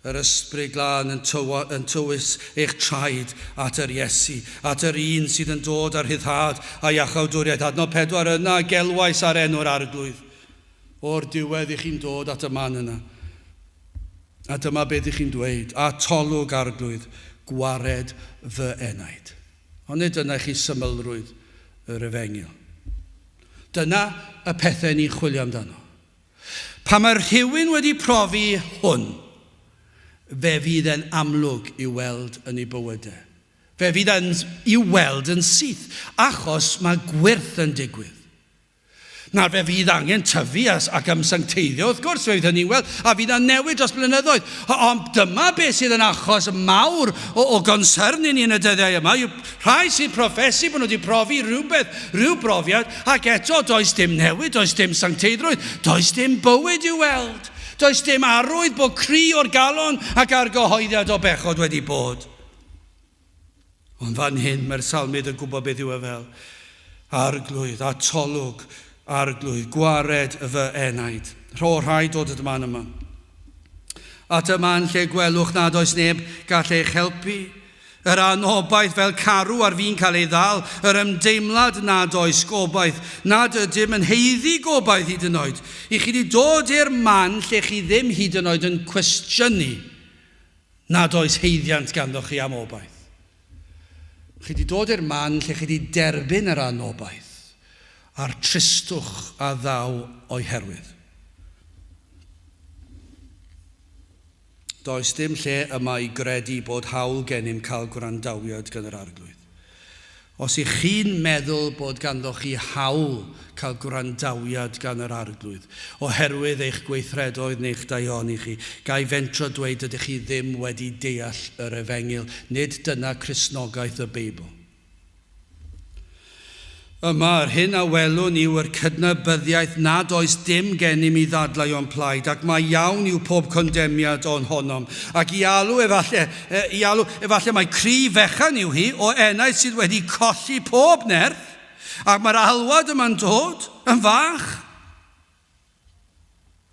yr Ysbryd Glân yn, tywa, yn tywys eich traed at yr Iesu, at yr un sydd yn dod â rhyddhad a iachawdwriaeth. Adnod 4, Yna gelwais ar enw'r Arglwydd. O'r diwedd i chi'n dod at y man yna, a dyma beth i chi'n dweud, Atolwg, Arglwydd, gwared fy enaid. Ond nid dyna i chi symlrwydd yr efengyl. Dyna y pethau ni'n chwilio amdano. Pan mae rhywun wedi profi hwn, fe fydd e'n amlwg i'w weld yn ei bywyd e. Fe fydd e'n i'w weld yn syth, achos mae gwyrth yn digwydd. Nawr, fe fydd angen tyfu ac ymsancteiddio, wrth gwrs, fe fydd hynny'n wel, a fydd yna newid dros blynyddoedd. Ond dyma beth sydd yn achos mawr o, o gonsyrn i ni yn y dyddiau yma, yw rhai sy'n profesu bod nhw wedi profi rhywbeth, rhyw brofiad, ac eto does dim newid, does dim sancteiddrwydd, does dim bywyd i'w weld. Does dim arwydd bod cri o'r galon ac argyhoeddiad o bechod wedi bod. Ond fan hyn mae'r Salmydd yn gwybod beth yw e fel arglwydd, atolwg, arglwydd, gwared fy enaid. Rho rhai dod at y man yma. At y man lle gwelwch nad oes neb gall eich helpu. Yr anobaith fel carw ar fi'n cael ei ddal, yr ymdeimlad nad oes gobaith, nad ydym yn heiddi gobaith hyd yn oed. I chi wedi dod i'r man lle chi ddim hyd yn oed yn cwestiynu Nad oes haeddiant ganddoch chi am obaith. Chi 'di dod i'r man lle chi 'di derbyn yr anobaith a'r tristwch a ddaw o'i herwydd. Does dim lle yma i gredu bod hawl gennym cael gwrandawiad gan yr Arglwydd. Os y'ch chi'n meddwl bod ganddoch chi hawl cael gwrandawiad gan yr Arglwydd, oherwydd eich gweithredoedd neu'ch daioni chi, ga i fentro dweud dydych chi ddim wedi deall yr Efengyl, nid dyna Cristnogaeth y Beibl. Yma, yr hyn a welwn yw yr cydnabyddiaeth nad oes dim genym i ddadlau o'n plaid, ac mai iawn yw pob condemniad o'n honom, ac i alw, efalle, I alw, efallai mai cryf fechan yw hi, o enaid sydd wedi colli pob nerth, ac mae'r alwad yma'n dod yn fach.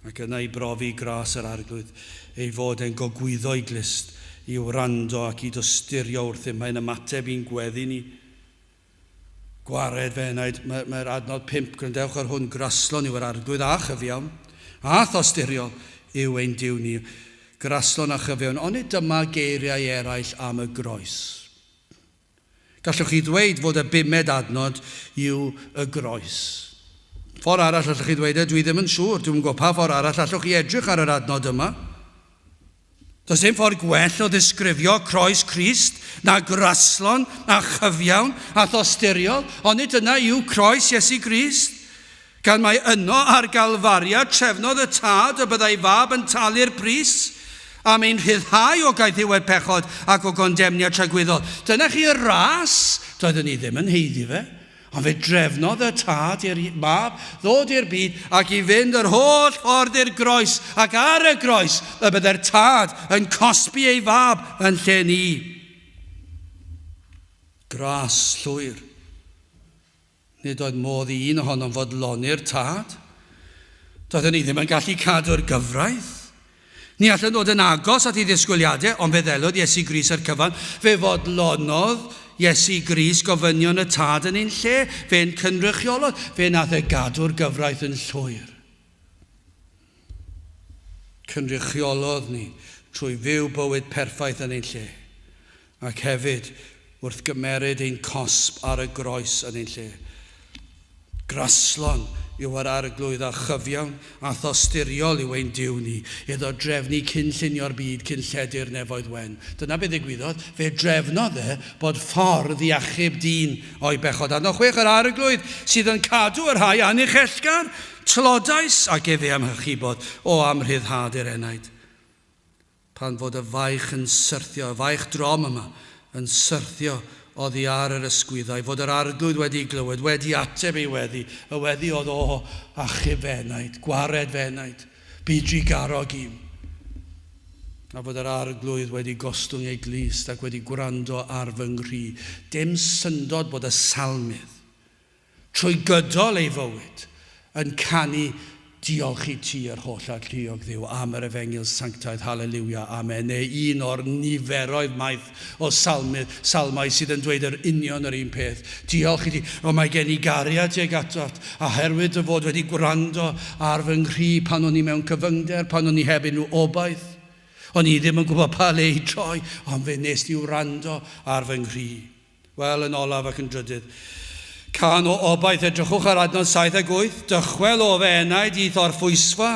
Ac yna i brofi gras yr Arglwydd, ei fod e'n gogwyddo'i glust, i wrando ac i dosturio wrth un mae'n ymateb i'n gweddi ni. Gwared fe wnaed, mae'r mae'r adnod pump, gwrandewch ar hwn, graslon yw yr Arglwydd a chyfiawn, a thosturiol yw ein Duw ni, graslon a chyfiawn, onid dyma geiriau eraill am y Groes? Gallwch chi ddweud fod y bumed adnod yw y Groes. Ffordd arall allwch chi ddweud e, dwi ddim yn siŵr, dwi'm yn gwybod pa ffordd arall allwch chi edrych ar yr adnod yma. Does dim ffordd gwell o ddisgrifio croes Crist na graslon a chyfiawn a thosturiol, ond nid yna yw croes Iesu Grist. Gan mai yno ar Galfaria trefnodd y Tad y byddai fab yn talu'r pris am ein rhyddhau o gaethiwed pechod ac o gondemniad tragwyddol. Dyna chi y ras doeddwn i ddim yn heiddi fe. Ond fe drefnodd y Tad i'r Mab ddod i'r byd ac i fynd yr holl ffordd i'r groes, ac ar y groes y byddai'r Tad yn cosbi ei Fab yn lle ni. Gras llwyr. Nid oedd modd i un ohonom fodloni'r Tad. Doedden ni ddim yn gallu cadw'r gyfraith. Ni allent ddod yn agos at ei ddisgwyliadau, ond fe ddelodd Iesu Grist â'r cyfan. Fe fodlonodd Iesu Grist gofynion y Tad yn ein lle. Fe ein cynrychiolodd. Fe nath e gadw'r gyfraith yn llwyr. Cynrychiolodd ni trwy fyw bywyd perffaith yn ein lle. Ac hefyd, wrth gymeryd ein cosb ar y groes yn ein lle. Graslon yw yr Arglwydd a chyfiawn a thosturiol yw ein Duw ni, iddo drefnu cyn llunio'r byd, cyn lledu'r nefoedd wen. Dyna be ddigwyddodd, fe drefnodd e bod ffordd i achub dyn o'i bechod. Adnod chwech, Yr Arglwydd sydd yn cadw y rhai anychellgar, tlodais, ac efe amhychubod o amrhyddhad yr enaid. Pan fod y faich yn syrthio, y faich drom yma, yn syrthio oddi ar yr ysgwyddau, fod yr Arglwydd wedi'i glywed, wedi ateb ei weddi, y weddi oedd, O, achub fy enaid, gwared fy enaid, bu drugarog i'm. A fod yr Arglwydd wedi gostwng ei glust ac wedi gwrando ar fy nghri. Dim syndod bod y Salmydd trwy gydol ei fywyd, yn canu Diolch i ti, yr holl Arlliwg, Dduw, am yr Efengyl Sanctaidd, Haleliwia, Amen, neu un o'r niferoedd maith o salmydd, salmau sydd yn dweud yr union yr un peth. Diolch i ti, O mae gen i gariad tuag atat, a herwydd dy fod wedi gwrando ar fy nghri pan o'n i mewn cyfyngder, pan o'n i heb unrhyw obaith, o'n i ddim yn gwybod pa le i droi, ond fe wnes di wrando ar fy nghri. Wel, yn olaf ac yn drydydd. Cân o obaith, edrychwch ar adnod saith ac wyth, dychwel o fy enaid i'th orffwysfa,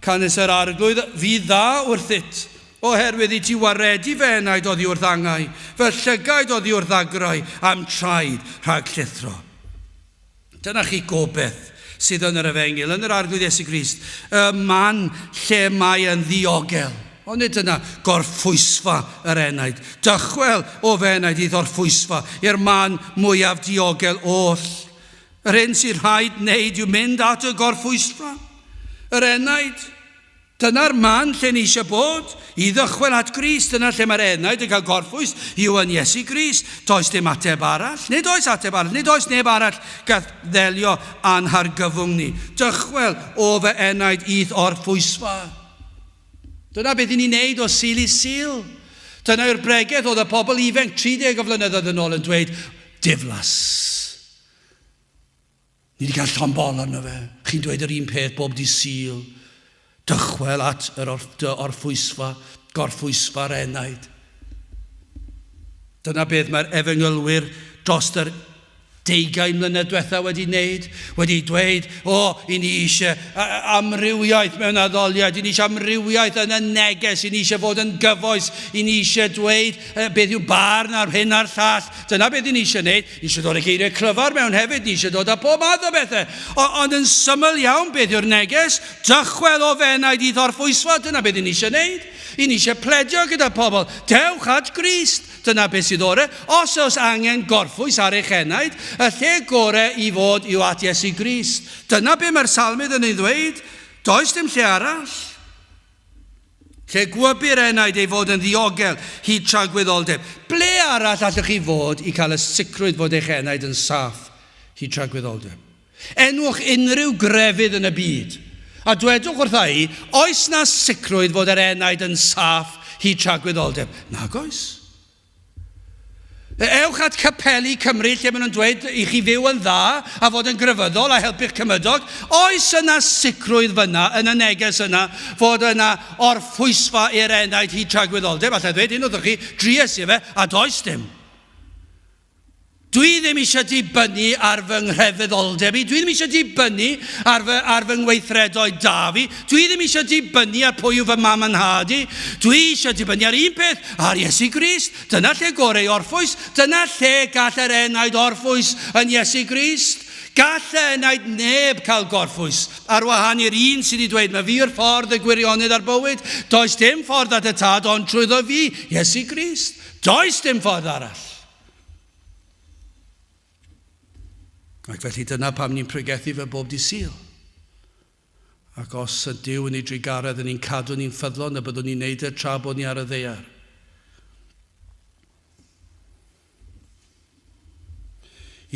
canys yr Arglwydd fu dda wrthyt, oherwydd i ti waredu fy enaid oddi wrth angau, fy llygaid oddi wrth ddagrau, a'm traed rhag llithro. Dyna chi gobaith sydd yn yr Efengyl, yn yr Arglwydd Iesu Grist, y man lle mae yn ddiogel. Ond nid dyna gorffwysfa yr enaid. Dychwel, o fy enaid, i ddorffwysfa, i'r man mwyaf diogel oll. Yr hyn sydd rhaid wneud yw mynd at y gorffwysfa, yr enaid. Dyna'r man lle ni eisiau bod, i ddychwel at Grist, dyna lle mae'r enaid yn cael gorffwys, yw yn Iesu Grist. Does dim ateb arall. Nid oes ateb arall. Nid oes neb arall gall ddelio â'n hargyfwng ni. Dychwel, O fy enaid, i'th orffwysfa. Dyna beth i ni'n neud o Sul i Sul. Dyna yw'r bregeth oedd y pobl ifenc 30 o flynyddoedd yn ôl yn dweud, Diflas. Ni 'di cael llond bol arno fe. Chi'n dweud yr un peth bob dydd Sul. Dychwel at yr orff, dy orffwysfa, gorffwysfa'r enaid. Dyna beth mae'r efengylwyr drost yr deugain mlynedd diwetha wedi wneud, wedi dweud, o, i ni eisiau amrywiaeth mewn addoliad, i ni eisiau amrywiaeth yn y neges, i ni eisiau fod yn gyfoes, i ni eisiau dweud beth yw barn ar hyn a'r llall. Dyna beth i ni eisiau wneud. Ni eisiau dod â geiriau clyfar mewn hefyd, ni eisiau dod â pob math o bethau. O, ond yn syml iawn, beth yw'r neges? Dychwel o fenau di ddorphwysfa, dyna beth ni'n eisiau gwneud. I ni eisiau pledio gyda phobl, dewch at Grist, dyna beth sydd orau. Os oes angen gorffwys ar eich enaid, y lle gorau i fod yw at Iesu Grist. Dyna beth mae'r salmydd yn ei ddweud, does dim lle arall. Lle gwybir enaid ei fod yn ddiogel hyd tra gwyddoldeb, ble arall allwch chi fod i cael y sicrwydd fod eich enaid yn saff hyd tra gwyddoldeb? Enwch unrhyw grefydd yn y byd, a dwedwch wrtha i, oes 'na sicrwydd fod yr enaid yn saff hyd tra gwyddoldeb? Nag oes. Ewch at Capeli Cymru lle maen nhw'n dweud i chi fyw yn dda a fod yn grefyddol a helpu'ch cymydog. Oes yna sicrwydd fyna yn y neges yna fod yna orffwysfa i'r enaid hyd tragwyddoldeb? Alla i ddweud hyn wrthoch chi, dries i fe a does dim. Dwi ddim eisiau dibynnu ar fy nghrefyddolldeb i, dwi ddim eisiau dibynnu ar fy, ar fy ngweithredoedd da fi, dwi ddim eisiau dibynnu ar pwy yw fy mam a nhad i, dwi eisiau dibynnu ar un peth, ar Iesu Grist. Dyna lle gorau i orffwys, dyna lle gall yr enaid orffwys yn Iesu Grist. Gall y enaid neb cael gorffwys, ar wahân i'r un sydd wedi dweud, mae fi yw'r ffordd, y gwirionedd a'r bywyd. Does dim ffordd at y Tad ond trwyddo fi, Iesu Grist. Does dim ffordd arall. Ac felly dyna pam ni'n pregethu fe bob di syl. Ac os y Dyw yn ei drugaredd yn ni'n cadw ni'n ffyddlon y byddwn ni'n neud e tra bod ni ar y ddeiar.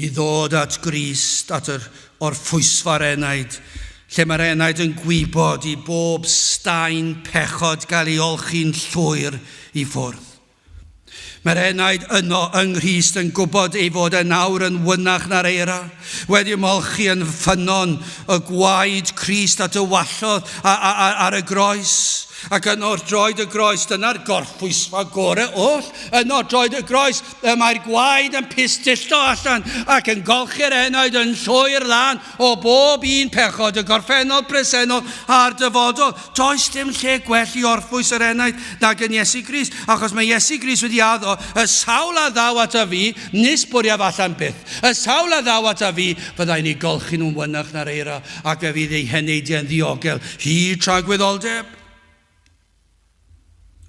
I ddod at Grist, at yr orffwysfa'r enaid, lle mae'r enaid yn gwybod i bob staen pechod gael ei olchi'n llwyr i ffwrdd. Mae'r enaid yno yng Nghrist yn gwybod ei fod e'n awr yn wynach na'r eira, wedi ymolchi yn ffynnon y gwaed Crist a dywallodd a, a, a, ar y groes. Ac yno wrth droed y groes, dyna'r gorffwysfa gore oll, yno droed y groes, y mae'r gwaed yn pistillo allan ac yn golchi'r enaid yn llwyr lan o bob un pechod, y gorffennol, presennol a'r dyfodol. Does dim lle gwell i orffwys yr enaid nag yn Iesu Grist, achos mae Iesu Grist wedi addo, y sawl a ddaw at a fi, nis bwriaf allan byth. Y sawl a ddaw at a fi, fyddai'n ei golchi nhw'n fynach na'r eira, ac fe fydd eu heneidiau'n ddiogel hyd tragwyddoldeb.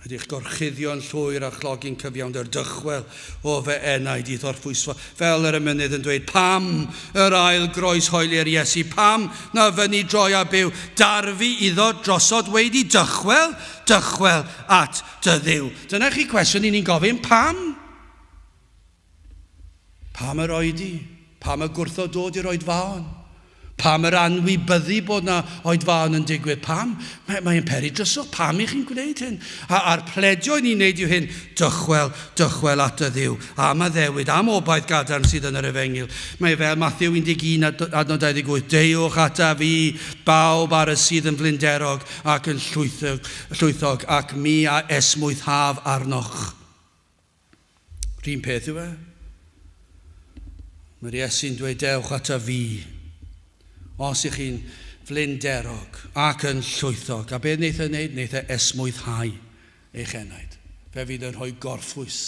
Ydych gorchuddio'n llwyr a chlogi'n cyfiawnder dychwel o fy enaid i ddorphwysfa, fel yr emynydd yn dweud, Pam yr ail groeshoeli'r Iesu? Pam na fyny droi a byw? Darfu iddo drosod weidi, Dychwel, dychwel at dy Dduw. Dyna chi cwestiwn i ni'n gofyn, pam? Pam yr oedi? Pam y gwrthod dod i'r oedfaon? Pam yr anwybyddu bod na oedfaon yn digwydd? Pam? Mae, mae yn peri dryswch. Pam i chi'n gwneud hyn? A, a'r pledio i ni'n neud yw hyn, dychwel, dychwel at y Dduw, am addewid, am obaith gadarn sydd yn yr Efengyl. Mae fel Mathew 11 adnod 28, Deuwch ata fi, bawb ar y sydd yn flinderog ac yn llwythog, llwythog ac mi a esmwythaf arnoch. Rhyn peth yw e. Mae'r Iesu'n dweud dewch ata fi, os ych chi'n flinderog ac yn llwythog. A beth wneith e wneud? Wneith e esmwythau eich enaid. Fe fydd yn rhoi gorffwys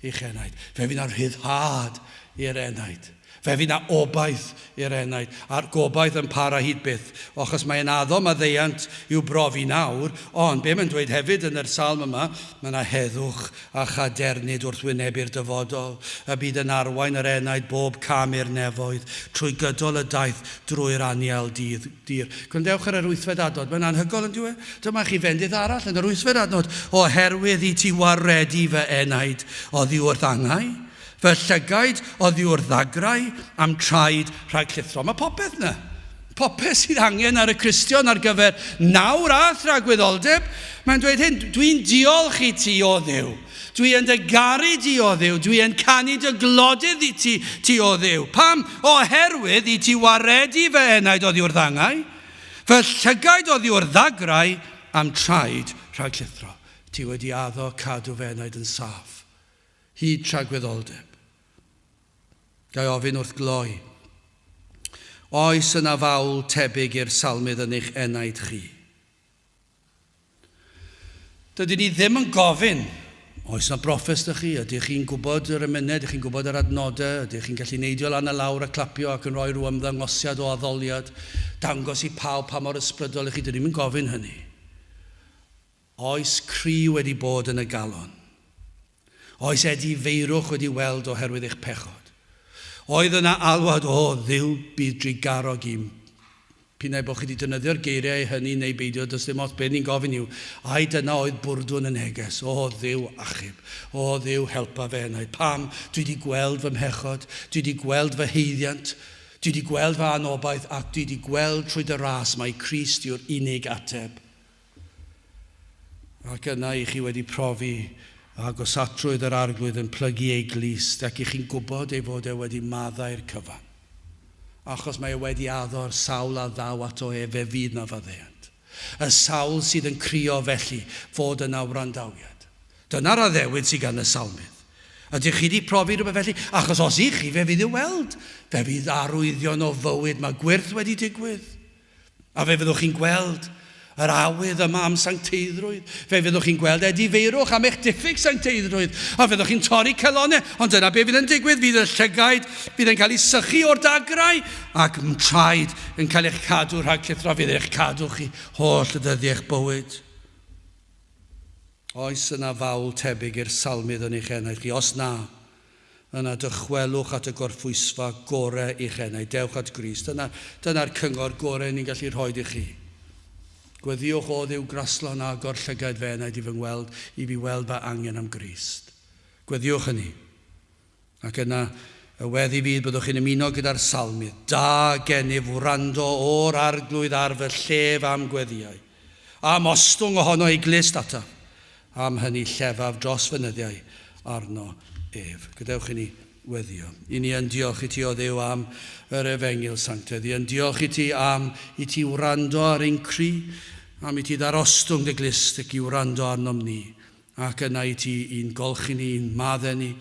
i'ch enaid. Fe fydd yn rhyddhad i'r enaid. Fe fydd 'na obaith i'r enaid, a'r gobaith yn para hyd byth, ochos mae e'n addo maddeuant i'w brofi nawr, ond be' mae'n dweud hefyd yn yr Salm yma, mae 'na heddwch a chadernid wrth wynebu'r dyfodol, y bydd yn arwain yr enaid bob cam i'r nefoedd, trwy gydol y daith, drwy'r anial dydd dir. Gwrandewch ar yr wythfed adnod, mae'n anhygoel yndyw e? Dyma chi fendith arall yn yr wythfed adnod, Oherwydd i ti waredu fy enaid oddi wrth angau, Fy llygaid oddi wrth ddagrau am traed rhag llithro. Mae popeth yna. Popeth sydd angen ar y Cristion ar gyfer nawr a thragwyddoldeb. Mae'n dweud hyn, dwi'n diolch i ti o ddew. Dwi yn dy garu di o ddew. Dwi yn canu dy glodydd i ti, ti o ddew. Pam? Oherwydd i ti waredu fy enaid oddi wrth angau, fy llygaid oddi wrth ddagrau am traed rhag llithro. Ti wedi addo cadw fy enaid yn saff. Hyd tragwyddoldeb. Ga i ofyn wrth gloi, oes yna fawl tebyg i'r Salmydd yn eich enaid chi? Dydyn ni ddim yn gofyn, oes yna broffes 'da chi, ydych chi'n gwybod yr emynau, ydych chi'n gwybod yr adnodau, ydych chi'n gallu neidio lan a lawr a clapio ac yn rhoi rhyw ymddangosiad o addoliad, dangos i pawb pa mor ysbrydol 'y chi, dydyn ni ddim yn gofyn hynny. Oes cri wedi bod yn y galon? Oes edi feirwch wedi weld oherwydd eich pechod? Oedd yna alwad, O Dduw, bydd drugarog i'm. P'un ai bod chi wedi defnyddio'r geiriau hynny neu beidio, does dim ots, be ni'n gofyn yw, ai dyna oedd bwrdwn y neges, O Dduw, achub. O Dduw, helpa fe yna. Pam? Dwi 'di gweld fy mhechod. Dwi 'di gweld fy haeddiant. Dwi 'di gweld fy anobaith, ac dwi 'di gweld trwy dy ras mai Crist yw'r unig ateb. ac yna i chi wedi profi agosatrwydd yr Arglwydd yn plygu ei glust, ac i chi'n gwybod ei fod e wedi maddau'r cyfan, achos mae e wedi addo'r sawl a ddaw ato ef, fe fydd 'na faddeuant. Y sawl sydd yn crio, felly, fod yna wrandawiad. Dyna'r addewid sydd gan y salmydd. Ydych chi 'di profi rhywbeth felly? Achos os 'ych chi, fe fydd i'w weld. Fe fydd arwyddion o fywyd, mae gwyrth wedi digwydd. A fe fyddwch chi'n gweld yr awydd yma am sancteiddrwydd. Fe fyddwch chi'n gweld edifeirwch am eich diffyg sancteiddrwydd, a fyddwch chi'n torri calonau. Ond dyna be fydd yn digwydd, fydd y llygaid, fydd yn cael ei sychu o'r dagrau, ac m traed yn cael eich cadw rhag llithro, fydd eich cadw chi holl ddyddiau eich bywyd. Oes yna fawl tebyg i'r salmydd yn eich enaid chi? Os na, Yna dychwelwch at y gorphwysfa gore i'ch enau. Dewch at Grist. Dyna, dyna'r cyngor gore ni'n gallu rhoid i chi. Gweddïwch O Dduw graslon agor llygaid fy enaid i fy ngweld, i fi weld fy angen am Grist. Gweddïwch hynny. Ac yna, y weddi fydd byddwch chi'n ymuno gyda'r salmydd, Da gennyf wrando o'r Arglwydd ar fy llef am gweddïau. Am ostwng ohono ei glust ato, am hynny llefaf dros fy nyddiau arno ef. Gadewch i ni weddio. I ni yn diolch i ti, O Dduw, am yr Efengyl Sanctaidd. I yn diolch i ti am i ti wrando ar ein cri, am i ti ddarostwng dy glust ac i wrando arnom ni. Ac yna i ti, i'n golchi ni, i'n maddau ni,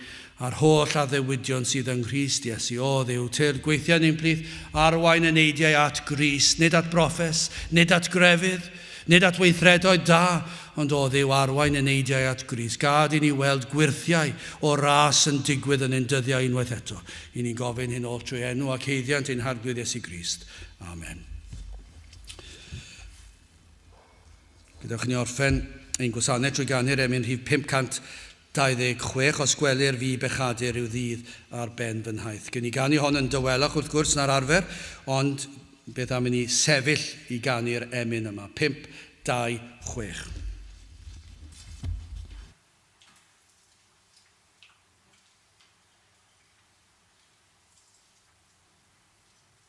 a'r holl addewidion sydd yng Nghrist Iesu. O Dduw, tyrd gweithiau ni ymhlith arwain y neidiau at Grist, nid at broffes, nid at grefydd, nid at weithredoedd da, ond, o Dduw, arwain y neidiau at Grist. Gad i ni weld gwyrthiau o ras yn digwydd yn ein dyddiau unwaith eto. I ni'n gofyn hyn oll trwy enw ac haeddiant ein Harglwydd Iesu Grist. Amen. Gadewch i ni orffen ein gwasanaeth drwy ganu'r emyn rhif 526, Os gwelir fi bechadur rhyw ddydd ar ben fy nhaith. Gewn ni ganu hon yn dawelach, wrth gwrs, na'r arfer, ond beth am i ni sefyll i ganu'r emyn yma, 526.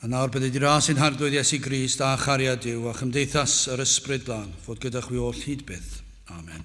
A nawr bydd y dras sy'n hardwyd Iesu Grist a chariad Dyw a chymdeithas yr Ysbryd Glân fod gyda chwi oll hyd byth. Amen.